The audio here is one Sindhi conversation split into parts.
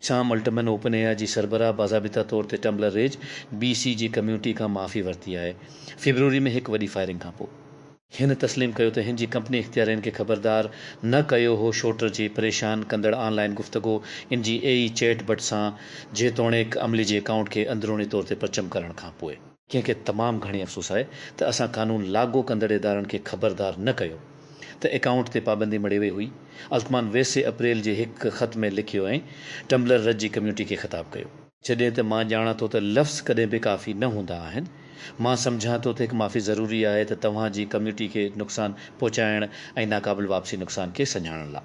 سام الٽمن اوپن اي آء جي سربراهه باضابطه طور تي ٽمبلر ريج بي سي جي ڪميونٽي کان معافي ورتي آهي فيبروري ۾ هڪ وڏي فائرنگ کان پو. هن تسليم ڪيو ته هن جي ڪمپني اختيارين کي خبردار نه ڪيو هو شوٽر جي پريشان ڪندڙ آن لائن گفتگو ان جي اي اي چيٽ بٽ سان جيتوڻيڪ عملي جي اڪائونٽ کي اندروني طور تي پرچم ڪرڻ کان پو. ڪنهن کي تمام گهڻي افسوس آهي ته اسان قانون لاڳو ڪندڙ ادارن کي خبردار نه ڪيو ته اڪائونٽ تي پابندي مڙهي وئي هئي. التمان ويسي اپريل جي هڪ خط ۾ لکيو ۽ ٽمبلر رج جي ڪميونٽي کي خطاب ڪيو. جڏهن ته مان ڄاڻان ٿو ته لفظ ڪڏهن به ڪافي نه هوندا آهن، مان سمجهان ٿو ته هڪ معافي ضروري آهي ته توهان جي ڪميونٽي کي نقصان پهچائڻ ۽ ناقابل واپسي نقصان کي سڃاڻڻ لاء.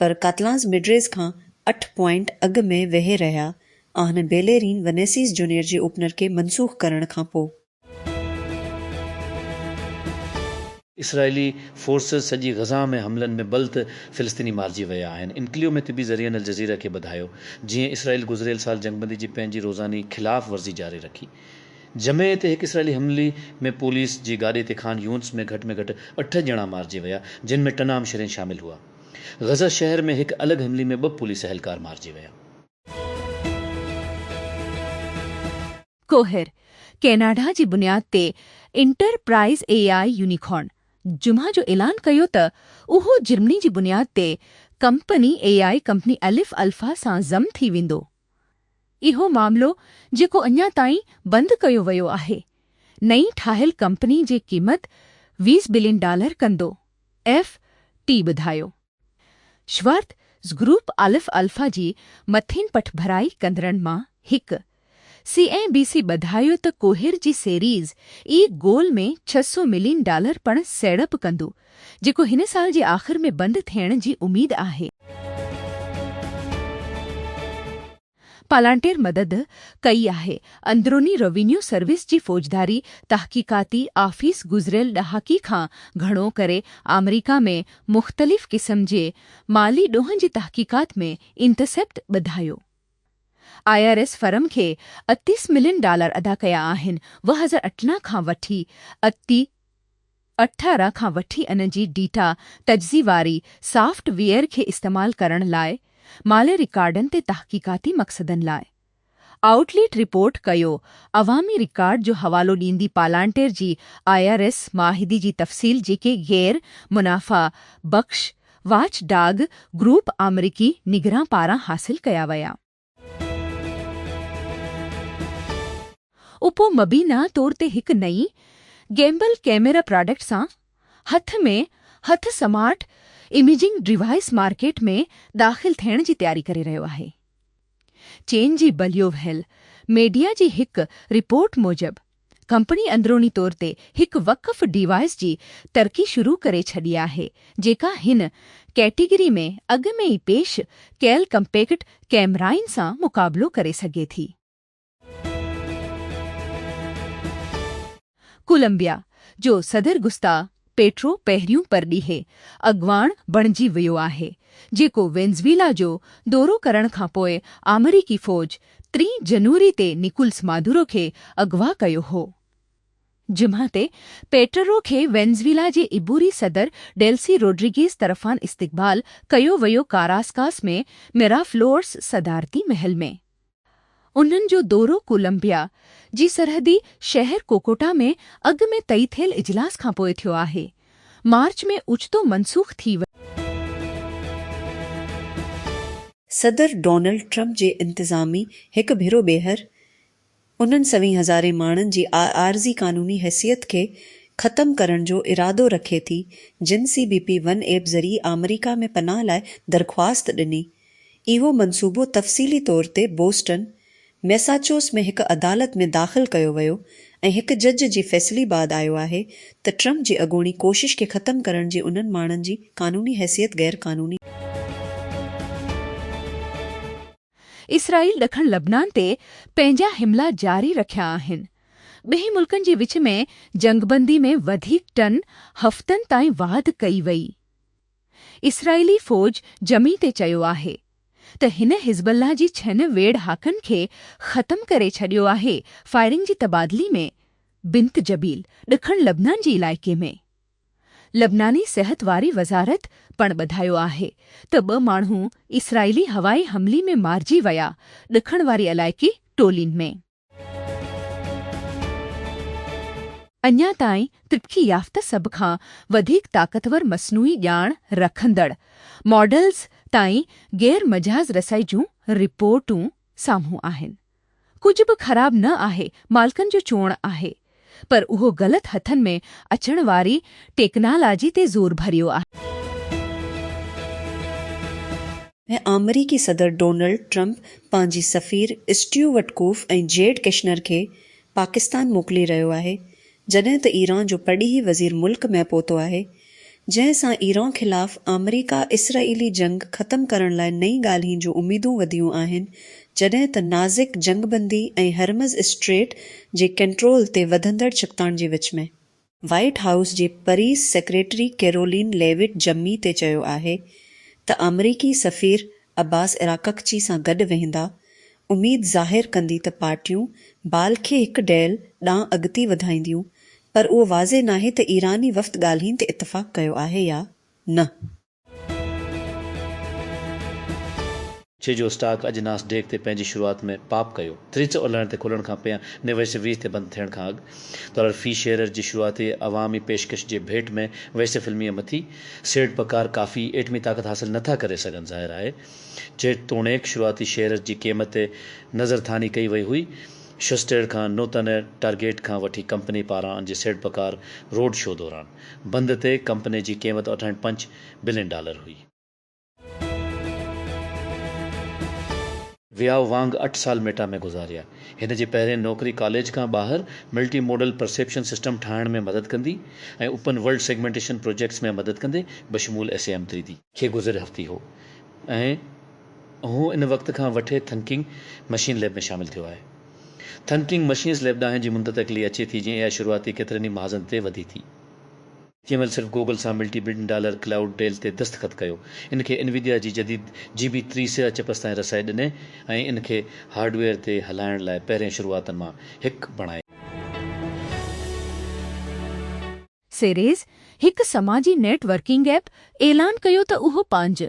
پر ڪاتلانس مڊريز کان اٺ پوائنٽ اڳ ۾ ويهي رهيا آهن بيليرين ونيسيس جونيئر جي اوپنر کي منسوخ ڪرڻ کان پوء. اسرائيلي فورسز سڄي غزه ۾ حملن ۾ بلد فلسطيني مارجي ويا آهن انڪليو ۾ طبي ذريعن الجزيره کي ٻڌايو جيئن اسرائيل گذريل سال جنگبندي جي پنهنجي روزاني خلاف ورزي جاري رکي جمعي تي هڪ اسرائيلي حملي ۾ پوليس جي گاڏي تي خان يونس ۾ گهٽ ۾ گهٽ اٺ ڄڻا مارجي ويا جن ۾ ٽنام شرين شامل هئا. غزه شهر ۾ هڪ الڳ حملي ۾ ٻه پوليس اهلڪار مارجي ويا. ڪوهر، ڪئناڊا جي بنياد تي انٽرپرائز اي آء يونيڪارن جمعه جو اعلان ڪيو ته اهو جرمني جي بنياد تي company A I company Aleph Alpha سان ضم ٿي ويندو. اهو معاملو جيڪو اڃا تائين بند ڪيو ويو آهي، نئين ٺاهيل ڪمپني جي قيمت ويس بلين ڊالر ڪندو، ايف. ٽي ٻڌايو. شوارت زگروپ الف الفا جي مٿين پٺڀرائي ڪندڙن مان هڪ، سي اين بي سي ٻڌايو ته ڪوهير جي سيريز اي گول ۾ ڇهه سؤ ملين ڊالر پڻ سيڙپ ڪندو، جيڪو هن سال جي آخر ۾ بند ٿيڻ جي اميد آهي. پالانٽير مدد ڪئي آهي. اندروني روينيو سروس جي فوجداري تحقيقاتي آفيس گذريل ڏهاڪي کان گهڻو ڪري آمريڪا ۾ مختلف قسم جي مالي ڏوهن جي تحقيقات ۾ انٽرسيپٽ ٻڌايو آء آر ايس فرم کي اتيس ملين ڊالر ادا ڪيا آهن وهزر اٽنا کان وٺي اتي اٺارهن کان وٺي ان جي ڊيٽا تجزي واري سافٽ ويئر کي استعمال ڪرڻ لاء مالي رڪارڊن تي تحقيقاتي مقصدن لاء. آئوٽ ليٽ رپورٽ ڪيو عوامي رڪارڊ جو حوالو ڏيندي پالانٽير جي آء آر ايس معاهدي جي تفصيل جيڪي غير منافع بخش واچ ڊاگ گروپ آمريڪي نگران پاران حاصل ڪيا ويا. اپو مبينا طور تي هڪ نئين گيمبل ڪيميرا پراڊڪٽ سان هٿ ۾ هٿ سمارٽ اميجنگ ڊوائيس مارڪيٽ ۾ داخل ٿيڻ جي تياري ڪري رهيو آهي. چين جي بليو وهيل ميڊيا جي هڪ رپورٽ موجب، ڪمپني اندروني طور تي هڪ وقف ڊيوائيس جي ترقي شروع ڪري ڇڏي آهي جيڪا هن ڪيٽيگري ۾ اڳ ۾ ئي پيش ڪيل ڪمپيڪٽ ڪيمرائن سان مقابلو ڪري سگهي ٿي. ڪولمبيا جو صدر گستا. پيٽرو پهريون پرڏيهي اڳواڻ بڻجي ويو آهي، جيڪو وينزويلا جو دورو ڪرڻ کان پوء آمريڪي فوج ٽين جنوري تي نڪولس مادورو کي اغوا ڪيو هو. جمعي تي پيٽرو کي وينزويلا جي عبوري صدر ڊيلسي روڊريگيز طرفان استقبال ڪيو ويو ڪاراسڪاس ۾ ميرافلورس صدارتي محل ۾. انهن جو دورو ڪولمبيا جي سرحدي شهر ڪوڪوٽا ۾ اڳ ۾ طئي ٿيل اجلاس کانپوء ٿيو آهي. مارچ ۾ اوچتو منسوخ ٿي ويو. صدر ڊونلڊ ٽرمپ جي انتظامي هڪ ڀيرو ٻيهر انهن سوين هزارين ماڻهن جي عارضي قانوني حيثيت کي ختم ڪرڻ جو ارادو رکي ٿي جن C B P one app ذريعي آمريڪا ۾ پناهه لاء درخواست ڏني اهو منصوبو تفصيلي طور تي بوسٽن، ميساچوس ۾ هڪ عدالت ۾ داخل ڪيو ويو ۽ هڪ جج جي فيصلي بعد آيو آهي ته ٽرمپ جي اڳوڻي ڪوشش کي ختم ڪرڻ جي انهن ماڻهن جي قانوني حيثيت غيرقانوني اسرائيل ڏکڻ لبنان تي پنهنجا حملا جاري رکيا آهن، ٻنهي ملڪن جي وچ ۾ جنگبندي ۾ وڌيڪ ٽن هفتن تائين واڌ ڪئي وئي. اسرائيلي فوج جمعي تي چيو آهي ته هن حزب الله جي ڇهن ويڙهاڪن کي ختم ڪري ڇڏيو آهي فائرنگ جي تبادلي ۾ بنت جبيل ڏکڻ لبنان جي علائقي ۾ لبناني صحت واري وزارت پڻ ٻڌايو آهي ته ٻه ماڻهو اسرائيلي هوائي حملي ۾ مارجي ويا ڏکڻ واري علائقي ٽولين ۾. اڃا تائين ترقي يافته سڀ کان وڌيڪ طاقتور مصنوعي ڄاڻ رکندڙ ماڊلز تائين غير مجاز رسائي جون رپورٽون سامهون آهن. ڪجهه به خراب نه آهي، مالڪن جو چوڻ آهي. پر اهو غلط هٿن ۾ اچڻ واري ٽيڪنالاجي تي زور ڀريو آهي. ۽ آمريڪي صدر ڊونلڊ ٽرمپ پنهنجي سفير اسٽيو وٽڪوف ۽ جيرڊ ڪشنر کي پاڪستان موڪلي رهيو آهي جڏهن ته ايران جو پرڏيهي وزير ملڪ ۾ پهتو آهي جنهن سان ايران خلاف آمريڪا اسرائيلي جنگ ختم ڪرڻ لاء نئين ڳالهين جون اميدون وڌيون آهن جڏهن ته نازڪ جنگ بندي ۽ هرمز اسٽريٽ جي ڪنٽرول تي وڌندڙ ڇڪتاڻ جي وچ ۾ وائيٽ هائوس جي پريس سيڪريٽري ڪيرولين ليوٽ جمعي تي چيو آهي ته آمريڪي سفير عباس عراققچي سان گڏ ويهندا اميد ظاهر ڪندي ته پارٽيون بال کي هڪ ڊيل ڏانهن اڳتي وڌائينديون پر اهو واضح ناهي ته ايراني وفد ڳالهين تي اتفاق ڪيو آهي يا نه. چي جو اسٽاڪ اڄ ناس ڊيڪ تي پنهنجي شروعات ۾ پاپ ڪيو. تريچ اولهائڻ تي کلڻ کان پهيان نيويس ويهه تي بند ٿيڻ کان اڳ ڊالر في شيئر جي شروعاتي عوامي پيشڪش جي ڀيٽ ۾ ويسي فلميء مٿي سيڙ پڪار ڪافي ايٽمي طاقت حاصل نه ٿا ڪري سگهن ظاهر آهي جيتوڻيڪ شروعاتي شيئرز جي قيمت تي نظر ٿاني ڪئي وئي هئي شوسٽير کان نوتنه ٽارگيٽ کان وٺي ڪمپني پاران جي سيڙ پڪار روڊ شو دوران بند تي ڪمپني جي قيمت اٺائڻ پنچ بلين ڊالر هئي. وياو وانگ اٺ سال ميٽا ۾ گذاريا. هن جي پهرين نوڪري ڪاليج کان ٻاهر ملٽي موڊل پرسيپشن سسٽم ٺاهڻ ۾ مدد ڪندي ۽ اوپن ورلڊ سيگمينٽيشن پروجيڪٽس ۾ مدد ڪندي بشمول S A M three D. کي گذريل هفتي هو ۽. هو ان وقت کان وٺي ٿنڪنگ مشين ليب ۾ شامل ٿيو آهي. ٿنڪنگ مشينس ليب ڏانهن جي منتتقلي اچي ٿي جيئن اها شروعاتي ڪيترن ئي محاذن تي وڌي ٿي. جنهن مهل صرف گوگل سان multi billion dollar cloud deal تي دستخط ڪيو. ان کي انويديا جي جديد جي بي تري سياهه چپس تائين رسائي ڏني ۽ ان کي هارڊويئر تي هلائڻ لاء پهرين شروعاتن مان هڪ بڻائي. سيريز، هڪ سماجي نيٽ ورڪنگ ايپ، اعلان ڪيو ته اهو پنهنجي.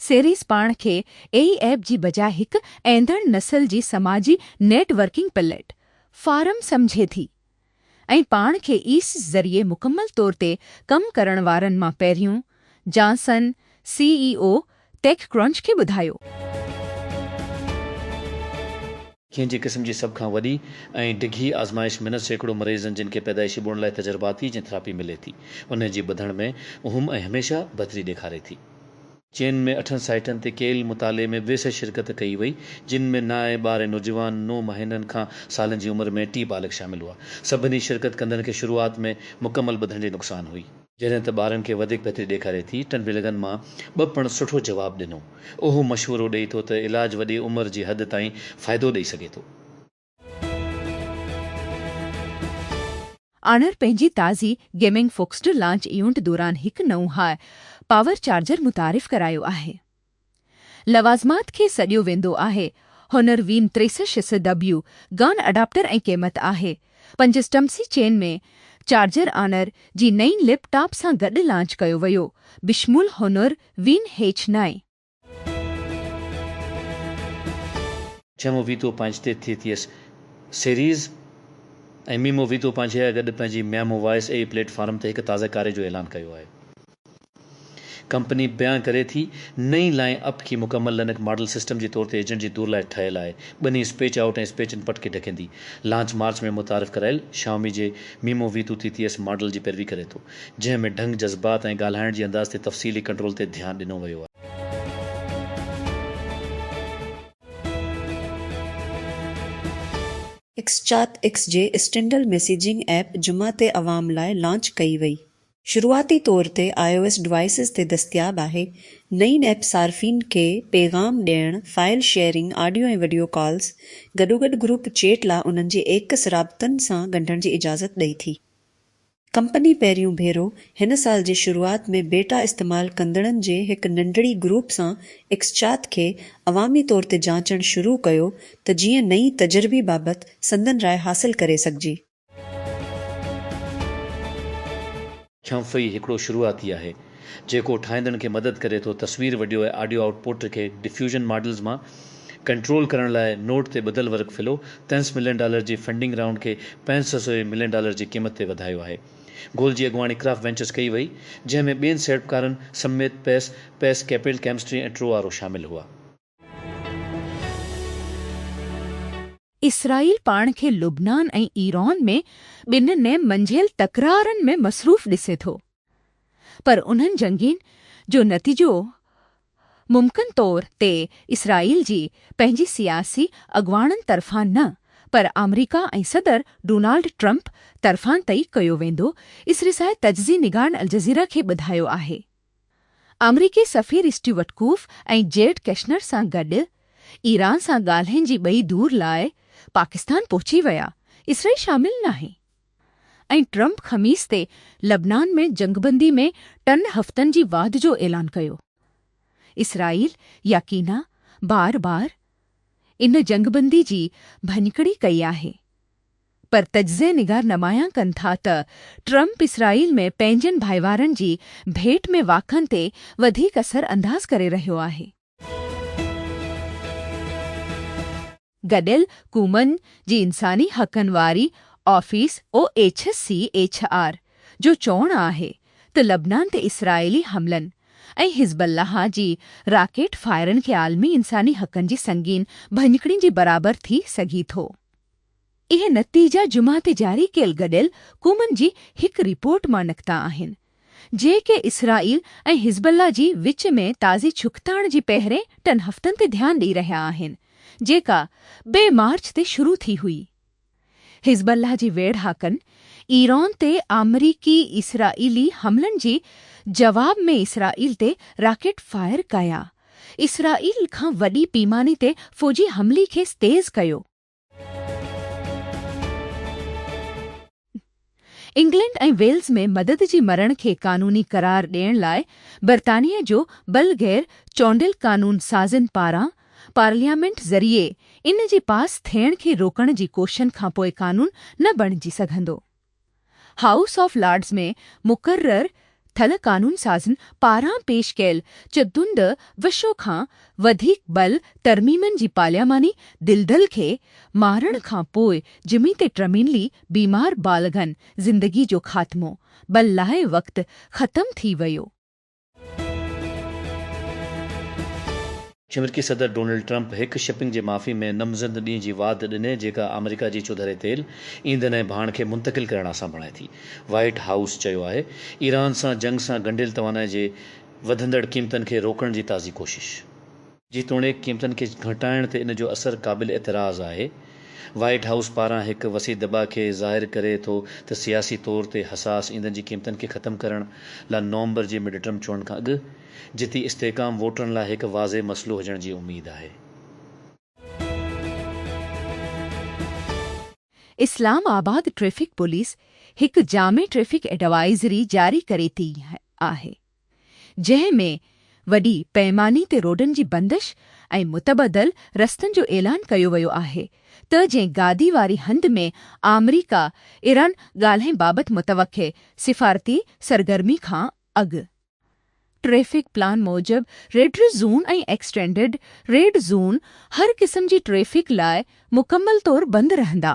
سيريز پاڻ کي اي اي ايپ جي بجاء هڪ ايندڙ نسل جي سماجي نيٽ ورڪنگ پليٽ فارم سمجهي ٿي ۽ پاڻ کي ايس ذريعي مڪمل طور تي ڪم ڪرڻ وارن مان پهريون جانسن سي اي او ٽيڪ ڪرنچ کي ٻڌايو. کين جي قسم جي سڀ کان وڏي ۽ ڊگهي آزمائش منت سيڪڙو مريضن جن کي پيدائشي ٻوڙن لاء تجرباتي جين ٿراپي ملي ٿي انهن جي ٻڌڻ ۾ اهم ۽ هميشه بھتري ڏيکاري ٿي. چين ۾ اٺن سائيٽن تي ڪيل مطالعي ۾ ويسع شرڪت ڪئي وئي جن ۾ نائين ٻارهين نوجوان نو مهينن کان سالن جي عمر ۾ ٽي بالغ شامل هئا سڀني شرڪت ڪندڙن کي شروعات ۾ مڪمل ٻڌڻ جي نقصان هئي جڏهن ته ٻارن کي وڌيڪ بهتري ڏيکاري ٿي. ٽن بلگن مان ٻه پڻ سٺو جواب ڏنو. اهو مشورو ڏئي ٿو ته علاج وڏي عمر جي حد تائين فائدو ڏئي سگهي ٿو. آنر پنهنجي تازي گيمنگ فوڪسڊ لانچ ايونٽ دوران هڪ نئون هاء پاور چارجر متعارف ڪرايو آهي. لوازمات کي سڏيو ويندو آهي. هنر وين تريسشس ڊبليو گان اڊاپٽر ۽ قيمت آهي. پنج سٽمسي چين ۾ چارجر آنر جي نئين ليپ ٽاپ سان گڏ لانچ ڪيو ويو بشمول هنر وين هيچ نائي. ڇهون ويتو پنهنج تي ٿي ٿيس سيريز ۽ ميمو ويتو پنهنجي گڏ پنهنجي ميمو وائس اي پليٽ فارم تي هڪ تازه ڪاري جو اعلان ڪيو آهي. ڪمپني بيان ڪري ٿي، نئين لائن اپ کي مڪمل لنڪ ماڊل سسٽم جي طور تي ايجنٽ جي دور لاء ٺهيل آهي. ٻني اسپيچ آئوٽ ۽ اسپيچ انپٽ کي ڍڪيندي. لانچ مارچ ۾ متعارف ڪرايل Xiaomi جي Mimo V Two TTS ماڊل جي پيروي ڪري ٿو، جنهن ۾ ڍنگ، جذبات ۽ ڳالهائڻ جي انداز تي تفصيلي ڪنٽرول تي ڌيان ڏنو ويو آهي. ايڪسچات ايڪس جي اسٽينڊل ميسيجنگ ايپ جمعه تي عوام لاء لانچ ڪئي وئي. شروعاتي طور تي آء او ايس ڊوائيسز تي دستياب آهي. نئين ايپ صارفين کي پيغام ڏيڻ، file sharing, audio ۽ video calls, گڏوگڏ گروپ چيٽ لا انهن جي ايڪس رابطن سان ڳنڍڻ جي اجازت ڏئي ٿي. ڪمپني پهريون ڀيرو هن سال جي شروعات ۾ بيٽا استعمال ڪندڙن جي هڪ ننڍڙي گروپ سان ايڪسچات کي عوامي طور تي جانچڻ شروع ڪيو ته جيئن نئين تجربي بابت سندن راء حاصل ڪري سگهجي. ڇنف ئي هڪڙو شروعاتي آهي، جيڪو ٺاهيندڙن کي مدد ڪري ٿو تصوير، وڊيو ۽ آڊيو آئوٽ پوٽ کي ڊفيوزن ماڊلز مان ڪنٽرول ڪرڻ لاء نوٽ تي ٻڌل ورڪ فلو تنس ملين ڊالر جي فنڊنگ رائونڊ کي پنج سئو سوين ملين ڊالر جي قيمت تي وڌايو آهي گول جي اڳواڻي ڪرافٽ وينچرز ڪئي وئي جنهن ۾ ٻين سيڙپڪارن سميت پيس پيس ڪيپيل ڪيمسٽري ۽ ٽرو آرو شامل هئا. اسرائيل پاڻ کي لبنان ۽ ايران ۾ ٻن نيم منجهيل تڪرارن ۾ مصروف ڏسي ٿو، پر انهن جنگين جو نتيجو ممڪن طور تي اسرائيل جي پنهنجي سياسي اڳواڻن طرفان نه پر آمريڪا ۽ صدر ڊونالڊ ٽرمپ طرفان طئي ڪيو ويندو، اسرسائي تجزي نگارن الجزيره کي ٻڌايو آهي. آمريڪي سفير اسٽيوئٽ ڪوف ۽ جيرڊ ڪشنر سان گڏ ايران سان ڳالهين جي ٻئي دور لاء پاڪستان پهچي ويا، اسرائيل شامل ناهي ۽ ٽرمپ خميس تي لبنان ۾ جنگبندي ۾ ٽن هفتن جي واڌ جو اعلان ڪيو. اسرائيل يقينا بار بار ان جنگبندي جي ڀڃڪڙي ڪئي آهي پر تجزئي نگار نمايان ڪن ٿا ته ٽرمپ اسرائيل ۾ پنهنجن ڀائيوارن جي ڀيٽ ۾ واقعن تي وڌيڪ اثر انداز ڪري رهيو آهي. گڏيل قومن جي انساني حقن واري office O H C H R جو چوڻ آهي ته لبنان تي اسرائيلي حملن ۽ حزب الله جي راڪيٽ فائرن کي عالمي انساني حقن جي سنگين ڀڃڪڙين جي برابر ٿي سگهي ٿو اهي نتيجا جمعه تي جاري ڪيل گڏيل قومن جي هڪ رپورٽ مان نڪتا آهن، جيڪي اسرائيل ۽ حزب الله جي وچ ۾ تازي ڇڪتاڻ جي پهرين ٽن هفتن تي ڌيان ڏئي رهيا آهن، جيڪا بي مارچ تي شروع ٿي هئي. حزب الله جي ويڙهاڪن ايران تي آمريڪي اسرائيلي حملن جي جواب ۾ اسرائيل تي راڪيٽ فائر ڪيا، اسرائيل کان وڏي پيماني تي فوجي حملي کيس تيز ڪيو، انگلنڊ ۽ ويلز ۾ مدد جي مرڻ کي قانوني قرار ڏيڻ لاء برطانيه جو بل غير چونڊيل قانون سازن پاران پارليامينٽ ذريعي ان جي پاس ٿيڻ کي روڪڻ جي ڪوششن کانپوء قانون نه بڻجي سگهندو. هائوس آف لارڊز ۾ مقرر ٿل قانونسازن پاران پيش ڪيل چتوند وشو کان وڌيڪ بل ترميمن جي پارلياماني دلدل کي مارڻ کان پوء جمي تي ٽرمينلي بيمار بالغن زندگي جو خاتمو بل لاء وقت ختم ٿي ويو. چمرڪي صدر ڊونلڊ ٽرمپ هڪ شپنگ جي معافي ۾ نمزد ڏينهن جي واڌ ڏني جيڪا آمريڪا جي چوڌاري تيل، ايندن ۽ ڀاڻ کي منتقل ڪرڻ آسان بڻائي ٿي. وائيٽ هائوس چيو آهي ايران سان جنگ سان ڳنڍيل توانائي جي وڌندڙ قيمتن کي روڪڻ جي تازي ڪوشش. جيتوڻيڪ قيمتن کي گهٽائڻ تي ان جو اثر قابل اعتراض آهي، وائيٽ هائوس پاران هڪ وسيع دٻاء کي ظاهر ڪري ٿو ته سياسي طور تي حساس ايندن جي قيمتن کي ختم ڪرڻ لا نومبر جي مڊٽرم چونڊن کان اڳ جتي استحڪام ووٽرن لا هڪ واضح مسئلو هجڻ جي اميد آهي. اسلام آباد ٽريفڪ پوليس هڪ جامع ٽريفڪ ايڊوائيزري جاري ڪري ٿي آهي. جنهن ۾ وڏي پئماني تي روڊن جي بندش ۽ متبدل رستن جو اعلان ڪيو ويو آهي ته جنهن گادي واري هنڌ ۾ آمريڪا ايران ڳالهين بابت متوقع سفارتي سرگرمي کان اڳ ٽريفڪ پلان موجب red red zone ۽ extended red zone هر قسم جي ٽريفڪ لاء مڪمل طور بند رهندا.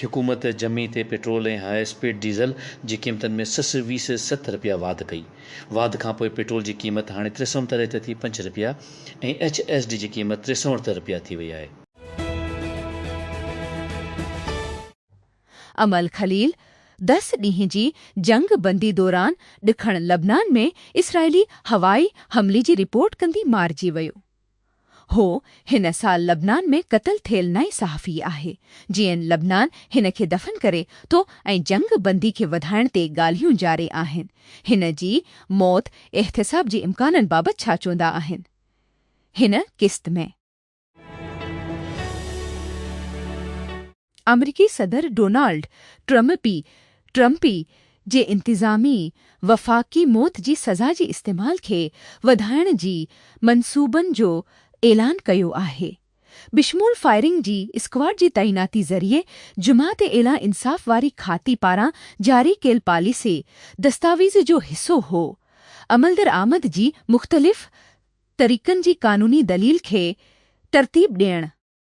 حڪومت جمعي تي پيٽرول ۽ هاء اسپيڊ ڊيزل جي قيمتن ۾ سس ويس ست رپيا واڌ ڪئي. واڌ کانپوء پيٽرول جي قيمت هاڻي ٽي سؤ تري ته ٿي پنج رپيا ۽ ايڇ ايس ڊي جي قيمت ٽي سؤ اڻتر رپيا ٿي وئي آهي. امل خليل دس ڏينهن جي جنگ بندي دوران ڏکڻ لبنان ۾ اسرائيلي هوائي حملي جي رپورٽ ڪندي مارجي ويو. هو هن سال لبنان ۾ قتل ٿيل نئين صحافي آهي، جيئن لبنان هن کي دفن ڪري ٿو ۽ جنگ بندي کي وڌائڻ تي ڳالهيون جاري آهن، هن جي موت احتساب جي امڪانن بابت ڇا چوندا آهن؟ هن قسط ۾. آمريڪي صدر ڊونالڊ ٽرمپي، Trumpy، جي انتظامي وفاقي موت جي سزا جي استعمال کي وڌائڻ جي منصوبن جو اعلان ڪيو آهي. بشمول فائرنگ جي اسڪواڊ جي تعيناتي ذريعي جمعه تي اعليٰ انصاف واري کاتي پاران جاري ڪيل پاليسي دستاويز جو حصو هو. عملدرآمد جي مختلف طريقن جي قانوني دليل کي ترتيب ڏيڻ.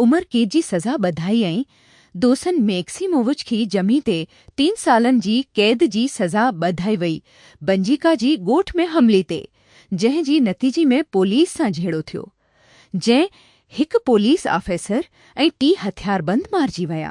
عمر قيد جي سزا ٻڌائي ۽ دوسن ميڪسيمووچ کي جمعي تي ٽن سالن جي قيد جي سزا ٻڌائي وئي بنجيڪا جي ڳوٺ ۾ حملي تي جنهن جي نتيجي ۾ پوليس سان جهيڙو ٿيو جنهن هڪ پوليس آفيسر ۽ ٽي هٿياربند مارجي ويا.